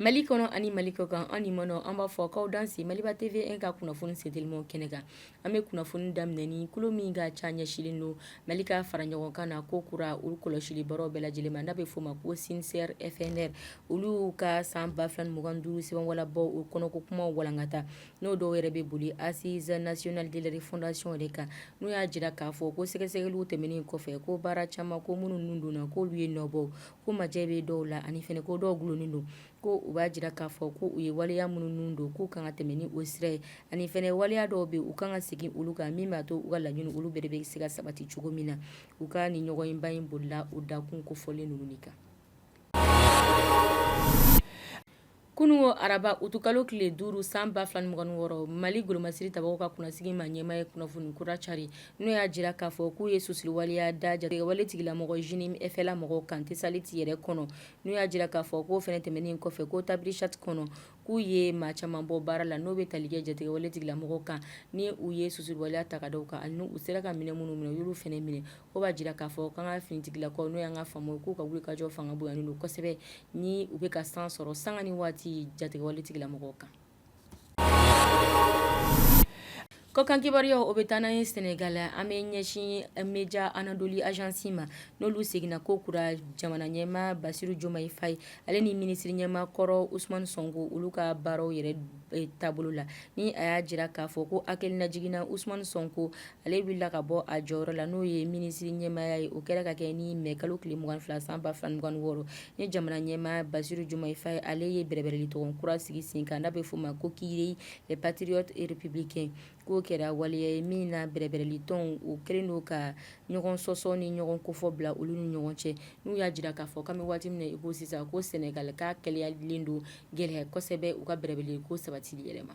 Mali kɔnɔ ani Mali kɔkan an limaanaw an b'a fɔ k'aw danse maliba TV 1 ka kunnafoni sentelimaw kɛnɛ kan an bɛ kunnafoni daminɛ ni kulu min ka ca ɲɛsilen don mali ka fara ɲɔgɔn kan na ko kura olu kɔlɔsili baaraw bɛɛ lajɛlen ma n'a bɛ f'o ma ko CINSERE FNR olu ka san ba fila ni mugan ni duuru sɛbɛnwala bɔ o kɔnɔko kumaw walankata n'o dɔw yɛrɛ bɛ boli Assises nationales de la refondation de kan n'u y'a jira k'a fɔ ko sɛgɛsɛgɛli tɛmɛnen kɔfɛ ko baara caman ko minnu ninnu don na k'olu ye nɔbɔ ko majɛ bɛ dɔw la ani fɛnɛ ko dɔw dulonnen don ko u b'a jira k'a fɔ ko u ye waleya minnu don k'u kan ka tɛmɛn ni o sira ye ani fɛnɛ waleya dɔw bɛ u kan ka segin olu kan min b'a to u ka laɲini olu bɛɛ bɛ se ka sabati cogo min na u ka ni ɲɔgɔnyeba in bolila u dakun kofɔlen ninnu de kan Kunun ko araba utukalo tile duuru san ba fila ni mugan ni wɔɔrɔ mali golomasiri tabaw ka kunnasigi ma ɲɛma ye kunnafoni kura cari n'o y'a jira k'a fɔ k'u ye susuli waleya da jatigɛwale tigilamɔgɔ JNIM FLA mɔgɔw kan Tessalit yɛrɛ kɔnɔ n'u y'a jira k'a fɔ k'o fɛnɛ tɛmɛnen kɔfɛ ko Tabrichat kɔnɔ k'u ye maa caman bɔ baara la n'o bɛ tali kɛ jatigɛwale tigilamɔgɔw kan ni u ye susuli waleya ta ka da u kan ani u sera ka minɛn minnu minɛ u y'olu fɛnɛ minɛ o b'a jira k'a fɔ k'an ka finitigilakaw n'o y'an ka FAMa k'u ka wulikajɔ fanga bonyanen don kosɛbɛ ni u bɛ ka san sɔrɔ sanga ni waati jatigɛwale tigilamɔgɔw kan kɔkan kibaruyaw o bɛ taa n'an ye sɛnɛgali an bɛ ɲɛsin média Anadolu Agency ma n'olu seginna ko kura jamana ɲɛma Bassirou Diomaye Faye ale ni minisiri ɲɛma kɔrɔ Ousmane Sonko olu ka baaraw yɛrɛ taabolo la ni a y'a jira k'a fɔ ko hakililajigin na Ousmane Sonko ale wulila ka bɔ a jɔyɔrɔ la n'o ye minisiri ɲɛmaya ye o kɛra ka kɛ ni mɛ kalo tile mugan ni fila san ba fila ni mugan ni wɔɔrɔ ni jamana ɲɛma Bassirou Diomaye Faye ale ye bɛrɛbɛrɛlitɔn kura sigi sen kan n'a bɛ f'o ma ko Kiiraay Les Patriotes républicains k'o kɛra waleya ye min na bɛrɛbɛrɛlitɔnw o kɛlen don ka ɲɔgɔn sɔsɔ ni ɲɔgɔn kofɔ bila olu ni ɲɔgɔn cɛ n'u y'a jira k'a fɔ k'an bɛ waati min na i ko sisan ko sɛnɛgali ka kɛlɛyalen don gɛlɛya kosɛbɛ u ka bɛrɛbɛrɛliko sabati yɛrɛ ma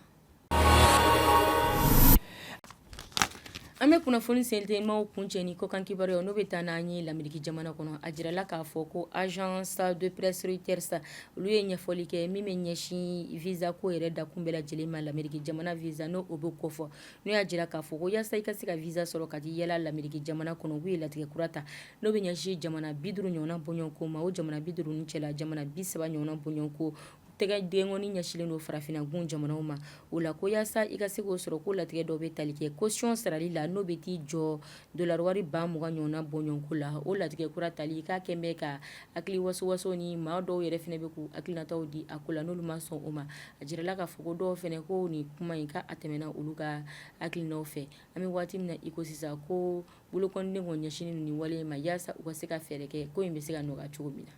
an bɛ kunnafoni sentemaw kuncɛ ni kɔkan kibaruya n'o bɛ taa n'an ye lameriki jamana kɔnɔ a jirala k'a fɔ ko agence de presse Reuters olu ye ɲɛfɔli kɛ min bɛ ɲɛsin visa ko yɛrɛ dakun bɛɛ lajɛlen ma lameriki jamana visa n'o o bɛ kofɔ n'o y'a jira k'a fɔ ko yasa i ka se ka visa sɔrɔ ka t'i yaala lameriki jamana kɔnɔ k'u ye latigɛ kura ta n'o bɛ ɲɛsin jamana bi duuru ɲɔgɔn bɔɲɔgɔnko ma o jamana bi duuru cɛla jamana bi saba ɲɔgɔn bɔɲɔgɔnko tɛgɛ denkɔni ɲɛsinlen don farafinagun jamanaw ma o la ko yasa i ka se k'o sɔrɔ ko latigɛ dɔ bɛ tali kɛ kosiyɔn sarali la n'o bɛ t'i jɔ Dolari wari ba mugan ɲɔgɔnna bɔɲɔgɔnko la o latigɛ kura tali k'a kɛlen bɛ ka hakili wawaso ni maa dɔw yɛrɛ fana bɛ k'u hakilinataw di a ko la n'olu ma sɔn o ma a jirala k'a fɔ dɔw fana ko nin kuma in ka a tɛmɛna olu ka hakilina fɛ an bɛ waati min na iko sisan ko bolokɔniden kɔni ɲɛsin nin wale ma walasa u ka se ka fɛɛrɛ kɛ ko in bɛ se ka nɔgɔya cogo min na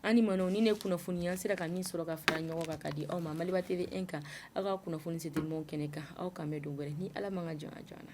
an ma nin ye kunnafoni an sera ka min sɔrɔ ka fara ɲɔgɔn kan ka di aw ma Maliba TV kan aw ka kunnafoni sidi kɛnɛ kan aw k'an bɛn don wɛrɛ ni ala man ka jɔn jɔn na